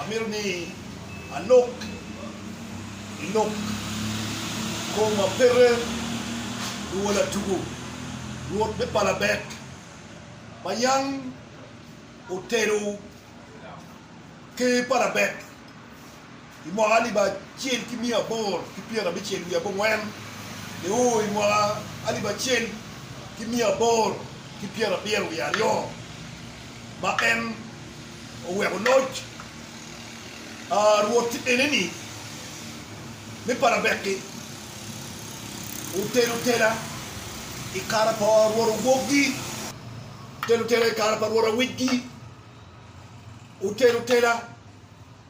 Amito ni alok i lok kom ma pete luwo latugo Rwot me palabek ma yam otelo ker palabek. I mwaka alip acel ki miya aboro ki pyerabicel wiye abongwen, ni u i mwaka alip acel ki miya aboro ki pyerabiro wiye aryo, ma en oweko loc a rwot eneni me parabeki, otelo tela i kare pa rwot awokgi, otelo tela i kare pa rwot awicgi, otelo tela.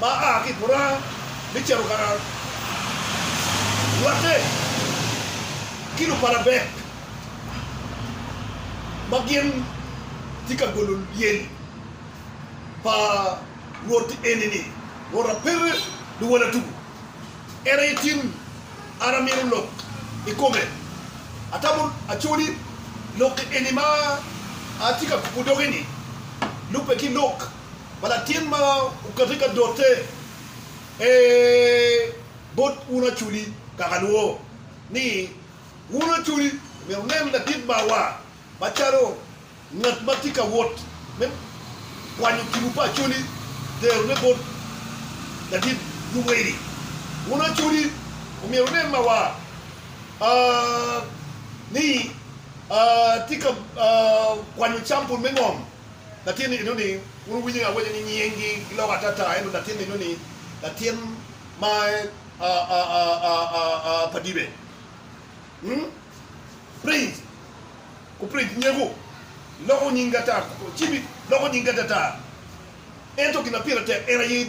ma a ki i buranga me cito ka raro rwatte ki lupalabek ma gin tye ka golo lyel pa Rwot eni-ni, Rwot a pire luwala tuku, en aye tin an amino lok i kome. Atamo acoli lok eni ma atye ka kubo doge-ni lubbe ki lok pa latin ma okate ka dote, Ee, bot un aculi, kaka lwo ni un aculi omyero wunen ladit mawa macalo ngat ma tye ka wot me kwanyo tipo pa acoli, terone bot ladit luweli. Un aculi omyero wunen mawa ni tye ka kwanyo campul me ngom. Latin eno ni wun wuwinyo ni awaco ni nying gi giloko atata ento latin eno ni latin ma pa dibe prince ku prince nyeko loko nying gi atata cibi loko nying gi atata ento gin ma pire tek en aye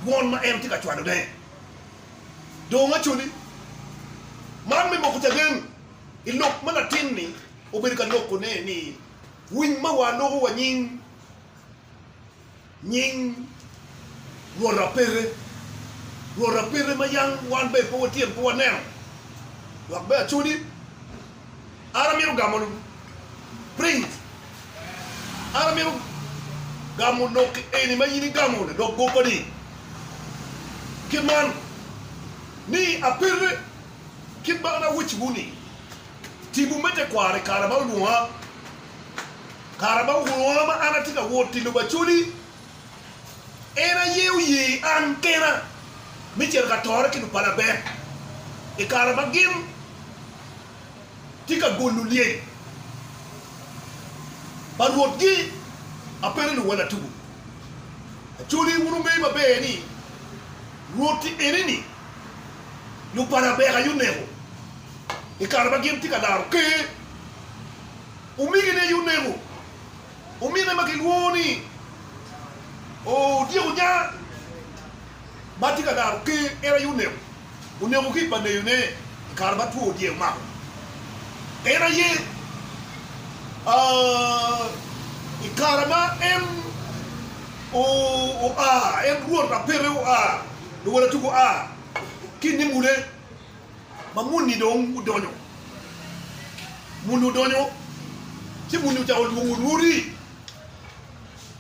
dwon ma en tye ka cwalo ne dong acoli man me moko caden ilok ma latin ni obedo ka loko ne ni Winy ma waloko wa nying, nying rwot apete, rwot apete ma yam wan bene pe watyen pe waneno, dok bene acodi. An amito gamo print, an amito gamo lok eni ma in igamo ladok goppa-ni, kit man ni, Apete, kit ma an awecciwu-ni. Tipo me tekwaro i kare ma olwonga. Kare ma olwonga ma an atye ka wot i lobo Acoli, en aye oye an kena me cito ka tore ki lupalabek i kare ma gin tye ka golo lyel pa Rwotgi. Apengo luwal atugo Acoli, wun wungeyo maber ni Rwoti eni-ni lupalabek aye oneko. i kare ma gin tye ka laro Ker. Omegine aye oneko omine ma kilwongo ni Odyek Onyaa ma tye ka laro Ker. En aye oneko, oneko ki i paneyone i kare ma two dyek omako. En aye i kare ma en oa, en Rwot Apete oa, luwotatugo oa ki i nimule. ma muni dong odonyo, muni odonyo ci muni ocako lwongo Rwodi,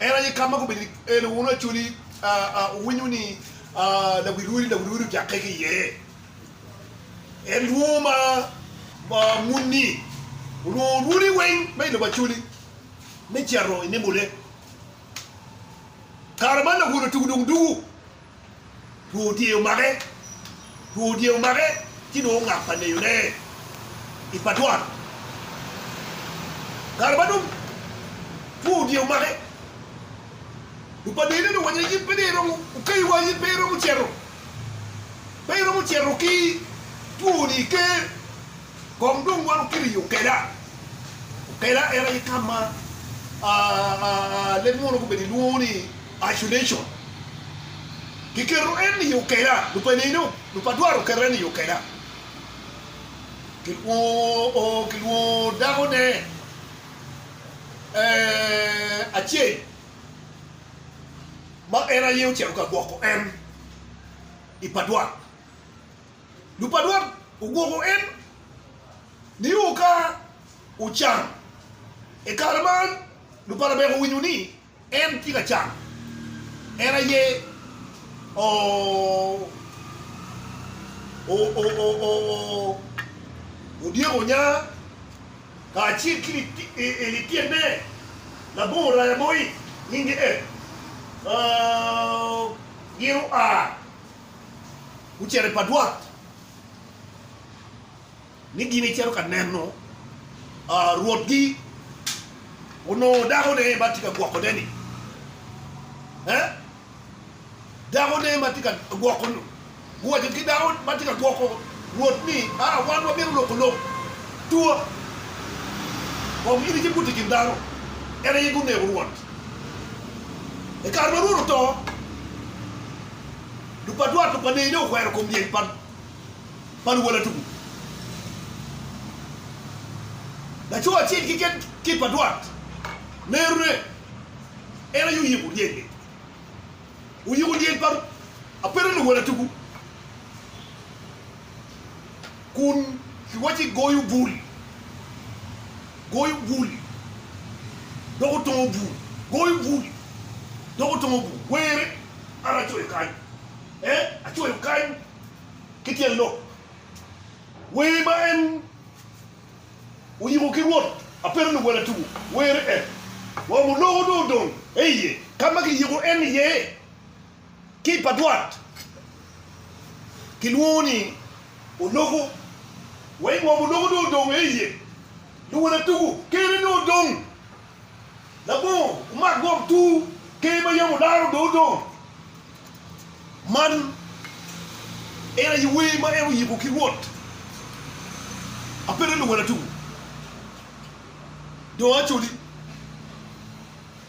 en aye kama gubedo ni en aye wono Acholi, owinyo ni lawi Rwodi, lawi Rwodi ojakke ki iye, en lwongo ma muni olwongo Rwodi weng ma ilobo Acholi me cito inimone, kare man lawono tugu dong dugu. Two dye omake, two dye omake ci dong ongak pa neyone i pa dwan. Kare ma dong two dye omake, dong pa neyone dong owaco ni in pe dong iromo, okayi wa in pe iromo cito, pe iromo cito ki twoni iker Kong dong wan wukele i okela, okela en aye ka ma leb munu gubedo gilwongo ni isolation. Kiketo en i okela, lupa nino, lupa dwaro keto en i okela. Kilwongo kilwongo dakone acel ma en aye ocito ka gwoko en i pa dwaro. Lupadwat ogwoko en nio ka ocan. I kare man, lupalabek owinyo ni en tye ka can. En aye odyeko nya kacel ki lityenene labongo raya mo, nyinge Ed. Gin oa. gucito i padwat ni gin icito ka neno rwotgi onongo dakone ma tye ka gwokone-ni. Dakone ma tye ka gwoko guwaco ki dako ma tye ka gwoko rwot ni, Aa, wan wabino loko lok tua kong in icibut i kin dano. En aye guneko rwot. I kare ma rwot oto. Lupadwar pa Panei dong okwero kom lyel pa luwala tuku. Laco acel keken ki i padwar nerone en aye oyiko lyel-li. Oyiko lyel pa apeta luwala tuku. kun kiwacci goyo bul, goyo bul, dok otongo bul, goyo bul, dok otongo bul, were, an acoyo kany, ee, acoyo kany ki tyen lok. Wer ma en oyiko ki Rwot apedo luwela tuku, were en, wamo loko dong odong, ee iye, ka ma kiyiko en iye. Kit pa dwot kilwongo ni oloko. Wa i ngom oloko dong odong eiye. Luwala tugo kene dong odong. Labongo omak ngom tur ker ma yam olaro dong odong. Man en aye wer ma en oyiko ki Rwot. Apete luwala tugo dong acoli.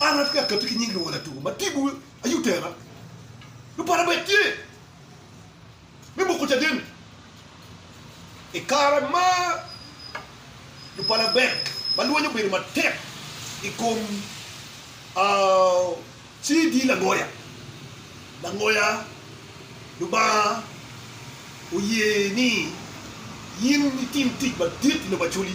An atye ka katti ki nying luwala tuku ma tipo aye otera nyo para bene tye me moko caden i kare ma lupalabek ma lweny obedo matek i kom CD langoya langoya. Lubanga oye ni in itim tic madit i lobo Acholi.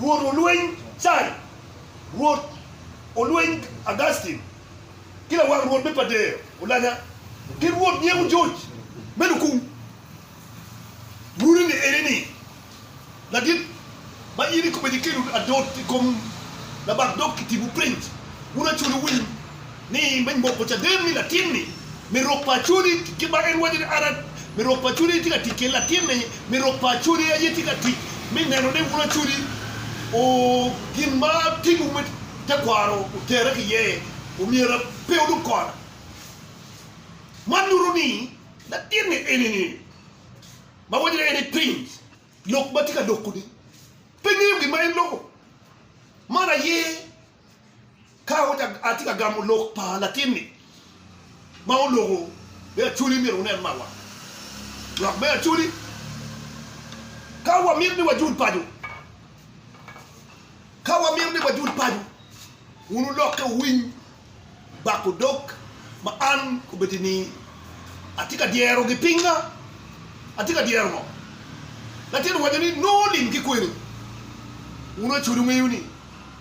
Rwot olweny Cai, Rwot olweny Augustin, ki lawang Rwot me Padea olanya, ki Rwot nyeko George me Lukung. Runi ni eni ni, Ladit, ma in ikobo eni kelo adot i kom labak dog kitibu piny, wun acwele winy. ni me moko caden ni latin-ni me rok pa Acodi kit ma en waco ni an me rok pa Acodi aye tye ka tic kede, latin-ni me rok pa Acodi aye tye ka tic me neno ni wun Acodi o gin ma timwu me tekwaro otere ki iye, omyera pe wudog kona. Man nyuto ni latin-ni eni-ni ma waco ni en i piny lok ma tye ka loko-ni pe ngeyo gin ma en loko. Man aye. Ka atye ka gamo lok pa latinni ma oloko me Acholi, myero wunen mawa lok me Acholi. Ka wamito ni wajul paco, ka wamito ni wajul paco, wun wulokke wuwiny bak odok ma an obed ni atye ka dyerogi. Pinga atye ka dyero ngo? Latinni owaco ni, Nongo lim ki kweni. Wun Acholi wuŋeyo ni,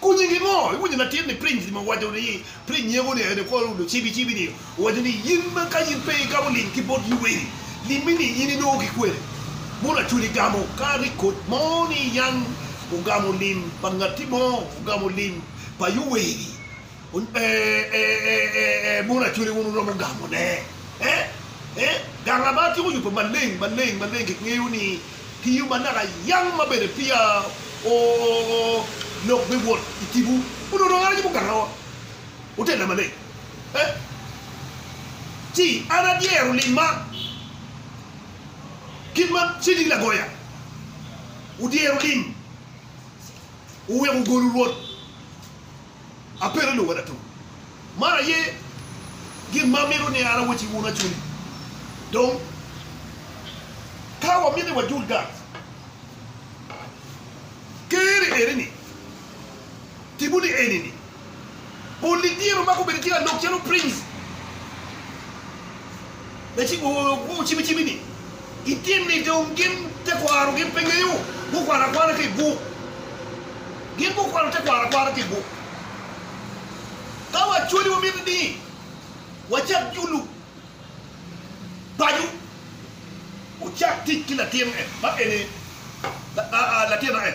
Ku nyingi ngo? Iwinyo latin ni piny ni ma owaco ni piny nyego ni ene kor udo cibi cibi ni owaco ni yin ma ka yin pe igamo lim ki bot luweri limmi ni yin inongo ki kwene mono acwali igamo ka rik kot mo ni yan ogamo lim pa ngati mo ogamo lim pa yuweri Ee, mon Acholi wun wuromo gamone. Gang Labar tyeko yubo maleng maleng maleng. Kingeyo ni ki yo manaka yam ma bene peya lok me wot i tipo onongo dong en aye yubo gangawa. Wutella maleng ci an adyero limma kit ma Cedi Lagoya odyero lim, oweko ogolu Rwot. Apedo ni wada tung. Man aye gin ma amito ni an awacci wun acuni. Dong, ka wamito ni wajul gang Ker-ri eni-ni, tibu ni eni-ni, Pol-li dyere omako bedo ki lalog calo prince. wucimicimi-ni, itim-mi dong gin tekwaro gin pe ngeyo gukwano akwana ki i buk. Gin gukwano tekwaro akwara ki i buk. Ka wacwali wamito ni wacak julu paco, wucak tic ki latin en ma en aye, latin aye.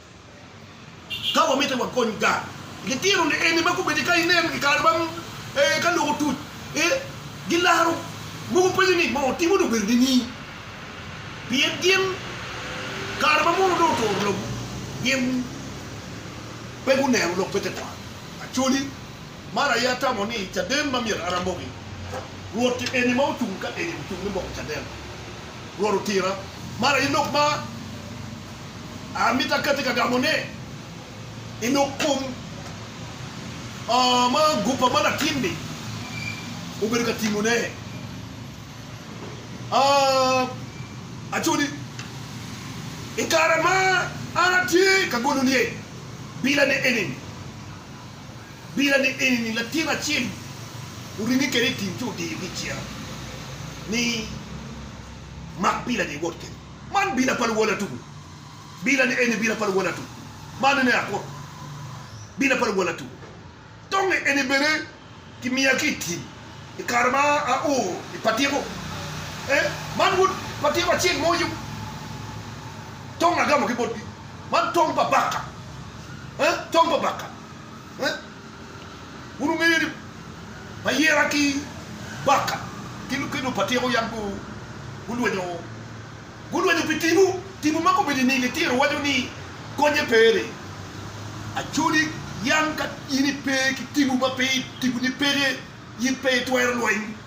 Ka wamito wakony gang, gitino lieni ma gubedo ka inen i kare ma ka lok otuc, gilaro mogo penyo ni, 'Moo timo ni obedo nini? Pien gin kare ma mono dong oturo lobo, gin pe guneno lok me tekwaro. Acholi, man aye atamo ni caden ma myero aramogi. Rwot eni ma ocung ka eni ocung me moko caden. Rwot otira. Man aye lok ma. Amito akati ka gamone i lok kom ma gupa ma latin-ni obedo ka timone. Aco ni, i kare ma an atye ka golo lye bilane eni-ni, bilane eni-ni latin acel oringe kwede i tim ci odiyo bicya ni, Mak bilani iwot kwede. Man bila pa luwala tuku. Bila ni eni bila pa luwala tuku. Man ene akut. Bila pa luwala tuku. Tongi eni bene ki miya ki i tim i kare ma a o i patiko. Eh, man wod patiko acel mo yung. Tong agamo ki botgi. Man tong pa baka. Eh, tong pa baka. Eh. Wun wungeyo ni Bayera ki Baka ki Lukelo pa Tyeko yam gulwenyo gulwenyo pi tipo, tipo ma komedo i nige tyer waco ni Konye pe ni Acholi yam ka in ipe ki tipo ma pe tiponi peke in pe itwero lweny.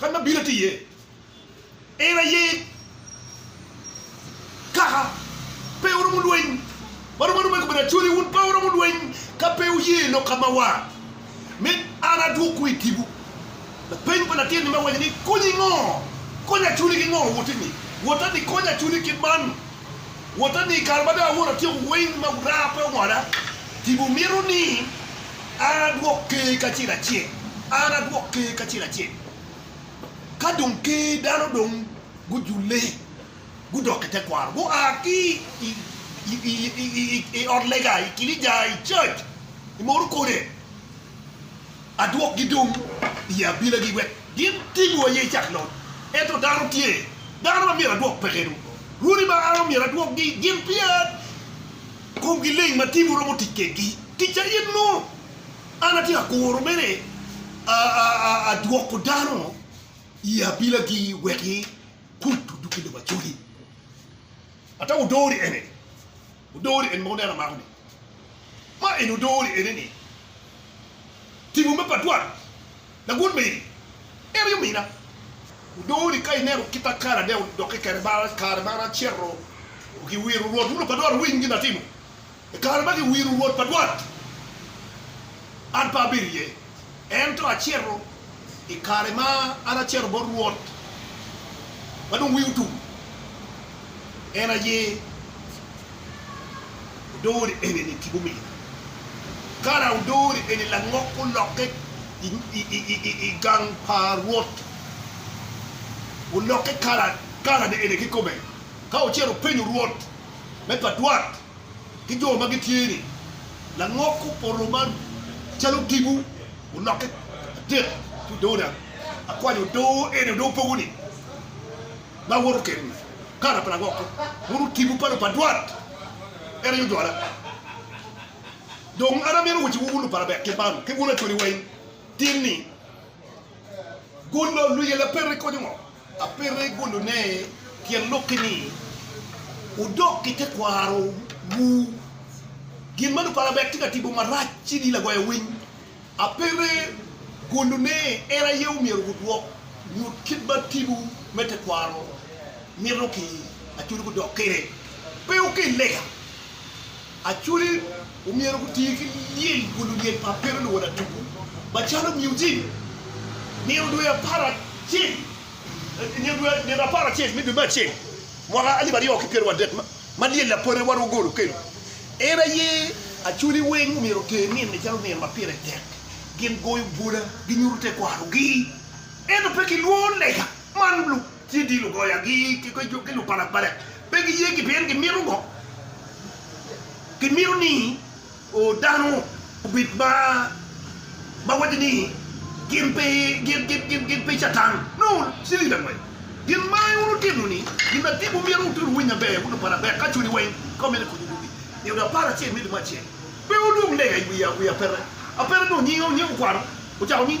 Kadi ma bino tye iye, en aye kaka pe oromo lweny. Ma romo aroma i kome ni, Acholi, wun pe wuromo lweny ka pe wuye lok ka ma war, me an adwokwu i tipo. Lapeny pa latin-ni me waco ni, Konyi ngo? Konya Acholi ki ngo? Woti-ni, wota ni konya Acholi kit man. Wota ni i kare ma dong awoto atyeko weng ma wurara pe owoda, tipo mito ni an adwok Ker kacel acel, an adwok Ker kacel acel. Ka dong Ker dano dong gujule, gudok i tekwaro, gua ki i ot lega, i kinica, i church, i mono kode, adwokgi dong i abilagi wek gin tim wo aye icak lon. Ento dano tye, dano ma myero adwok peke dong. Rwodi ma an omyero adwokgi gin pia komgi leng ma timwu romo tic kedgi. Ticca in nongo an atye ka kuro mere adwoko dano i abilagi wek i kut oduk i lobo Acoli. Ata wudori ene ni, wudori ene ma wuneno amako ni, ma eni wudori ene ni, timo me pa dwaro lagun meri, en aye omina. Wudori ka ineno kit ma kare adek odokke kede, kare ma an acito ki wiro Rwot, wun opa dwaro winy gin atimo, I kare ma giwiro Rwot pa dwot, an pe abedo iye, ento acito i kare ma an acito bot Rwot ma dong wiye otum, en aye odori eni-ni ki bumina. Kara odori eni langok olokke i gang pa Rwot, olokke kara, karane eni kikome, ka ocito openyo Rwot me pa dwot. ki jo ma gitye ni langok opoto ma calo odiko olokke adek ki odoo dang akwanyo odoo eni odoo pogo ni ma awoto keni kara pa langok ko mono otigo pa lupadwat en aye ojwala dong an amito waci wu wun lupara bek kit man ki wun acwali weng tin ni golo luyela peri konyo ngo. Apito i gulune tyen lok-ki ni, Wudok ki tekwarowu. Gin ma luparabet tye ka timo marac ci ni lagoya winy. Apito i gulune en aye omyero wudwok nyut kit ma timwu me tekwaro mito ki acul gudok kwede. Pe wukel lega. Acholi omyero guti ki lyel kun lulyel pa Pero luwod atuku macalo muzik. Nino dwe apar acel, nino dwe nino apar acel me dwe me acel mwaka alip aryo ki pyero wadek ma lyel lapore wan wagol okelo, en aye Acholi weng omyero oter nino-ni calo nino ma pire tek. Gin goyo bwola, ginyuto tekwarogi, ento pe gilwor lega man. Ci di lugoyagi ki lupalak palak pe giye gi pien gimito ngo? Gimito ni dano obed ma waco ni gin pe Catan. Nongo cilili angwen gin ma iwuro timo ni gin adi ma myero wuti wuwiny maber wun lupala bek ka cuni weng ka wumito konyo yugi? I ode apar acel me limo acel pe wulwong lega i wi apeta. Apeta nongo nyinge okwano ocako ni.